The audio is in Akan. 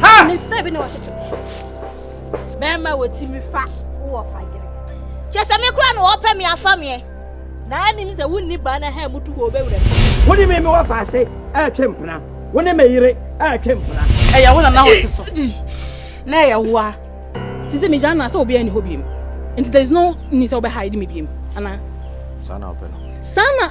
Ha! Ne style bi na ɔkyekyɛ. Bɛrima wɔ ti mi fa wɔ fagere. Kyɛ sɛ me kura na wɔpɛ me afa meɛ. Na anim sɛ wonni baa na ha mutu wɔ obɛwura mu. Wo ne me me wɔ faase ɛretwe mpena. Wo ne me yere ɛretwe mpena. Ɛyɛ wo na na wɔte so. Na ɛyɛ wo a. Te sɛ megya na sɛ obiara nni hɔ biem. Nti there is no need sɛ wobɛhide me biem anaa? Saa na wopɛ no. Saa na